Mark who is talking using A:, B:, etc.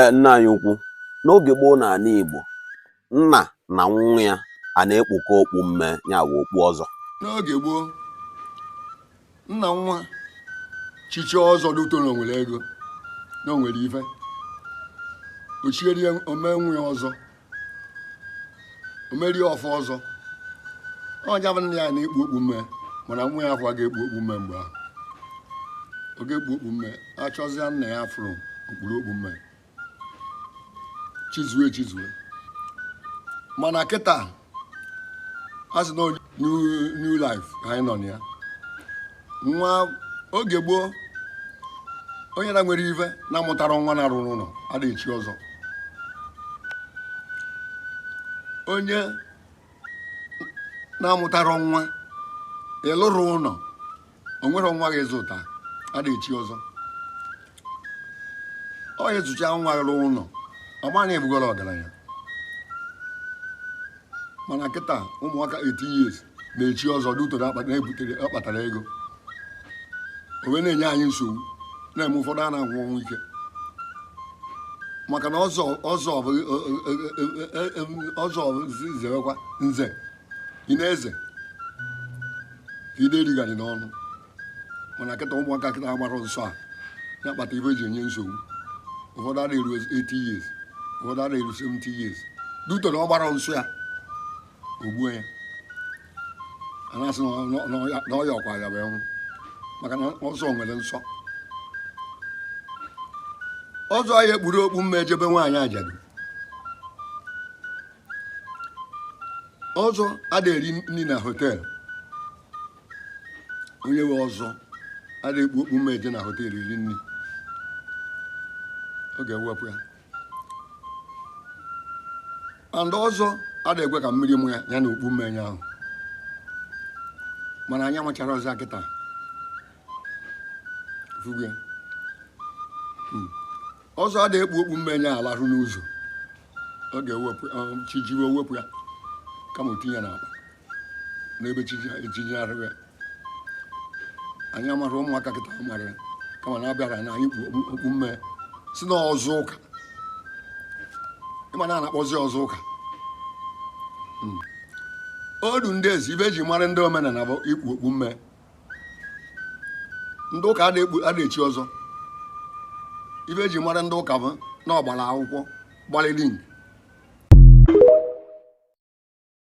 A: e, nna anyị ukwu n'oge gboo na ala Igbo nna na nwa ya ana ekpukọ okpu mme ya bụ okpu ọzọ n'oge gboo nna nwa chichaa ọzọ due to na o nwere ego na o nwere ife o chieri o mee nwa ya ọzọ o meri ofu ọzọ ọ ja-abụ nna ya na-ekpu okpu mme mana nwa ya afọ ga-ekpu okpu mme mgbe ahụ ọ ga-ekpu okpu mme a chọzịa nna ya afụrọ o kpuru okpu mme chizue chizue mana kịta a sị na new life ka anyị nọ na ya nwa oge gboo onye na-enwerọ ife na-amụtarọ nwa na-arụrọ ụnọ ada echi ọzọ onye na-amụtarọ nwa ị rụrọ ụnọ o nwerọ nwa gị zụta ada echi ọzọ onye zụcha nwa gị rụọ ụlọ ọ mara na ị bụgoro ọgaranya mana kịta ụmụaka 18 years na-echi ọzọ due to na-akpa- na-ebutere ọ kpatara ego o wee na-enye anyị nsogbu na-eme ụfọdụ a na-anwụ ọnwụ ike maka na ọzọ ọzọ bụ ọzọ bụ zerekwa nze ị na-eze ị da erigharị n'ọnụ mana kịta ụmụaka kịta agbara nsọ a ya kpata ife ji enye nsogbu ụfọdụ ada eru 80 years ụfọdụ ada eru 70 years due to na ọ gbara nsọ ya o gbuo ya a na-asị na ọya ọkwa ya bụ ọnwụ maka na ọzọ nwere nsọ ọzọ aya ekpuru okpu mme eje be nwaanyị ajadu ọzọ ada eri nri na họteelụ onye nwe ọzọ ada ekpu okpu mme eje na họteelụ iri nri ọ ga-ewepụ ya and ọzọ ada ekwe ka mmiri maa ya ya na okpu mme enye ahụ mana anyị amacharọ ọzọ kịta ị fụgo ya Hmm. ọzọ ada ekpu okpu mme enye ala ahụ n'ụzọ ọ ga-ewepụ ya, ọ, chi jiwe wepụ ya kama o tinye ya n'akpa n'ebe chi jiri ya anyị amarọ ụmụaka kịta amarọ ya kama na a bịara na anyị kpu okpu mme sị na ọzọ ụka ị ma na a na-akpọzi ọzọ ụka hmm. odu ndị ezi ife e ji mara ndị omenala bụ ikpu okpu mme ndị ụka ada echi ọzọ ife e ji mara ndị ụka bụ na ọ gbara akwụkwọ gbalịrị